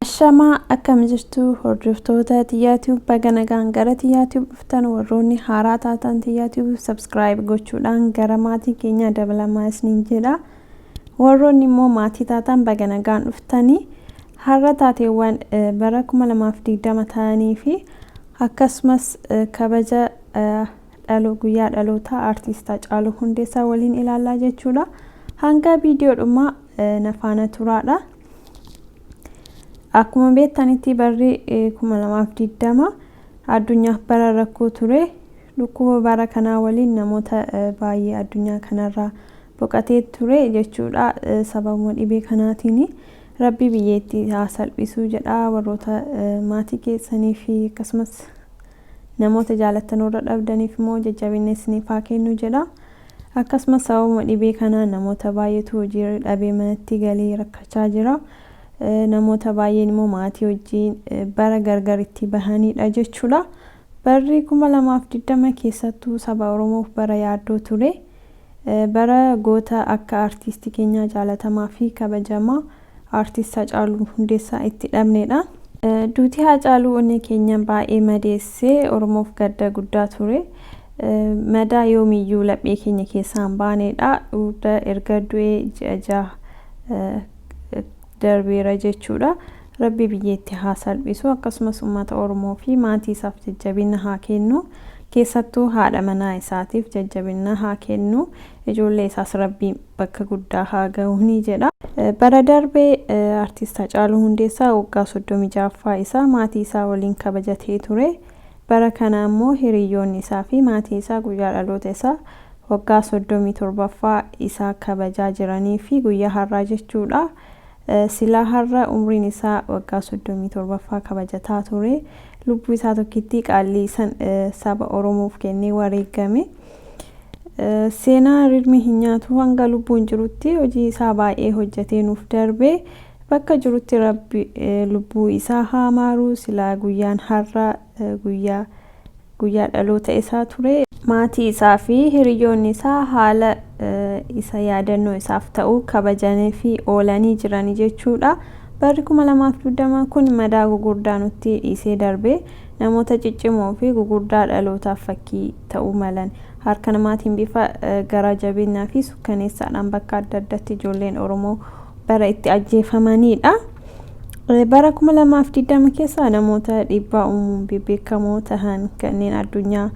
Ashamaa akkam jirtu hordoftoota Tiyyaa Tube baga nagaan gara Tiyyaa Tube dhuftan warroonni haaraa taatan Tiyyaa Tube subscribe gochuudhaan gara maatii keenya dabalamaa isiniin jedha. Warroonni immoo maatii taatan baga nagaan dhuftanii har'a taateewwan eh, bara 2020 ta'anii fi akkasumas eh, kabaja eh, dhalo guyyaa dhalootaa artiist Hacaaluu Hundeessaa waliin ilaallaa jechuudha. Hanga viidiyoo dhumaa na faana turaadha. Akkuma beektanitti barri 2020 addunyaaf bara rakkoo ture. Dhukkuba bara kanaa waliin namoota baay'ee addunyaa kanarraa boqatee ture jechuudha. Sababuma dhibee kanaatiin rabbi biyyeetti haa salphisuu jedha warroota maatii keessanii fi akkasumas Namoota jaalattan warra dhabdaniif immoo jajjabinna isiniif haa kennu jedha. Akkasumas sababuma dhibee kanaan namoota baay'eetu hojii dhabee manatti galee rakkachaa jira. Namoota baay'een immoo maatii wajjin bara gargar itti bahanidha jechuudha. Barri 2020 keessattuu saba Oromoof bara yaaddoo ture. Bara goota akka artiistii keenyaa jaalatamaa fi kabajamaa Artist Hacaaluu Hundeessaa itti dhabneedha. Duuti Haacaaluu onnee keenya baay'ee madeesse, Oromoof gadda guddaa ture. Madaa yoomiyyuu laphee keenya keessaa hin baaneedha. Dhuurda erga du'ee ji'a jaha darbeera jechuudha. Rabbi biyya itti haa salphisu akkasumas ummata Oromoo fi maatii isaaf jajjabina haa kennu. Keessattuu haadha manaa isaatiif jajjabina haa kennu. Ijoollee isaas Rabbi bakka guddaa haa gahuni jedha. Bara darbe Artiist Hacaaluu Hundeessaa waggaa 36ffaa isaa maatii isaa waliin kabajatee ture. Bara kana ammoo hiriyyoonni isaa fi maatii isaa guyyaa dhaloota isaa waggaa 37ffaa isaa kabajaa jiranii fi guyyaa har'aa jechuudha. Silaa har'a umriin isaa waggaa 37ffaa kabajataa ture. Lubbuu isaa tokkittii qaallii san saba Oromoof kennee wareeggame. Seenaa rirmi hin nyaatu hanga lubbuun jirutti hojii isaa baay'ee hojjatee nuuf darbe. Bakka jirutti Rabbi lubbuu isaa haa maaru. Silaa guyyaan har'a guyyaa guyyaa dhaloota isaa ture. Maatii isaa fi hiriyyoonni isaa haala isa yaadannoo isaaf ta'u kabajaniifii oolanii jirani jechuudha. Barri 2020 kun madaa gugurdaa nutti dhiisee darbe. Namoota ciccimoo fi gugurdaa dhalootaaf fakkii ta'uu malan. Harka namaatiin bifa garaa jabeennaa fi sukkaneessaadhaan bakka adda addatti ijoolleen Oromoo bara itti ajjeefamaniidha. Bara 2020 keessa namoota dhiibbaa uumuun bebbeekamoo tahan kanneen addunyaa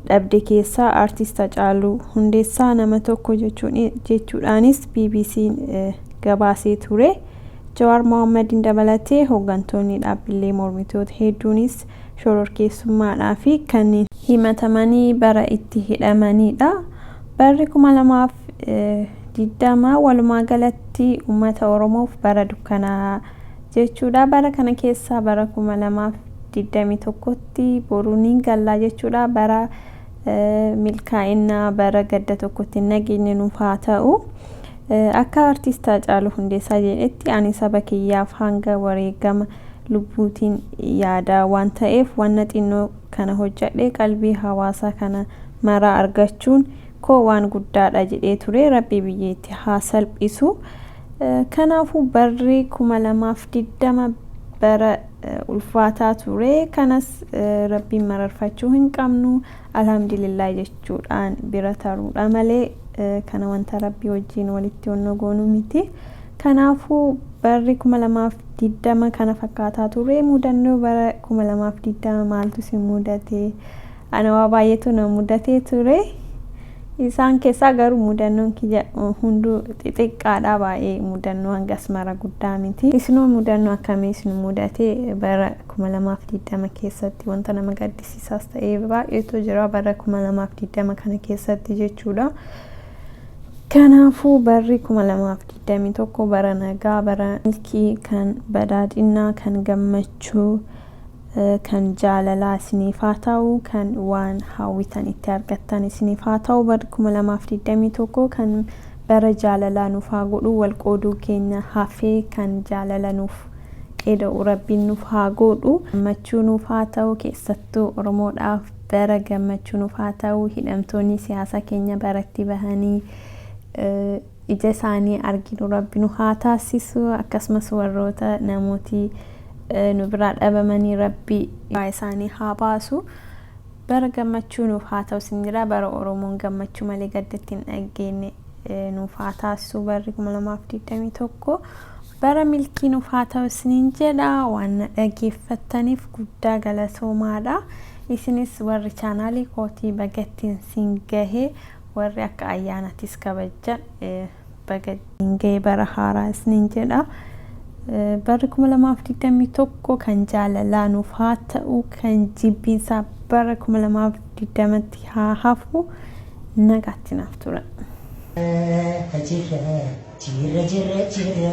dhabde keessaa Artiist Hacaaluu Hundeessaa nama tokko jechuudhaanis BBC'n gabaasee ture. Jawaar Mohaammadin dabalatee hooggantoonni dhaabbilee mormitoota hedduunis shororkeessummaadhaa fi kanneen himatamanii bara itti hidhamaniidha. Barri 2000 20 walumaa galatti ummata Oromoof bara dukkanaa jechuudha. Bara kana keessaa bara 2021tti boru niin gallaa jechuudha. Bara milkaa'innaa bara gadda tokkotti nageenyi nuuf haa ta'u. Akka artiist Haacaaluu Hundeessaa jedhetti ani saba kiyyaaf hanga wareegama lubbuutiin yaada waan ta'eef wanna xinnoo kana hojjadhee qalbii hawaasaa kana maraa argachuun koo waan guddaadha jedhee ture rabbi biyya itti haa salphisu kanaafuu barri 2020 bara ulfaataa ture kanas rabbiin mararfachuu hin qabnu alhamdulillah jechuudhaan bira taruudha malee kana wanta rabbii wajjiin walitti onnoo goonuu miti kanaafuu barri 2020 kana fakkaataa ture mudannoo bara 2020 maaltu si mudate Ana waa baay'eetu na mudatee ture. Isaan keessaa garuu mudannoon kiyya hunduu xixiqqaadha baay'ee mudannoo hangas mara guddaa miti. Isinoo mudannoo akkamii isin mudatee bara 2020 keessatti wanta nama gaddisiisaas ta'ee baay'eetu jira bara 2020 kana keessatti jechuudha. Kanaafuu barri 2021 bara nagaa bara milkii kan badhaadhinaa kan gammachuu Kan jaalalaa isiniif haa ta'u kan waan hawwitan itti argattan isiniif haa ta'u barri 2021 kan bara jaalalaa nuuf haa godhu wal qooduu keenya hafee kan jaalala nuuf eda'u rabbiin nuuf haa goodhu gammachuu nuuf haa ta'u keessattuu oromoodhaaf bara gammachuu nuuf haa ta'u hidhamtoonni siyaasaa keenya baratti bahanii ija isaanii arginu rabbi nu haa taassisu akkasumas warroota namooti nu biraa dhabamanii rabbi baa isaanii haa baasu bara gammachuu nuuf haa ta'u sin jedha bara oromoon gammachuu malee gadda itti hin dhaggeenne nuuf haa taassisu barri 2021 bara milkii nuuf haa ta'u isiniin jedha waan na dhageeffattaniif guddaa galatoomaadha isinis warri chaanaalii kootii bagattiin siin gahee warri akka ayyaanatis kabajja baga isin ga'e bara haaraa isiniin jedha. Barri 2021 kan jaalalaa nuuf haa ta'u, kan jibbiinsaa bara 2020tti haa hafu. Nagaatti naaf tura. Jirra jirra jirra jirra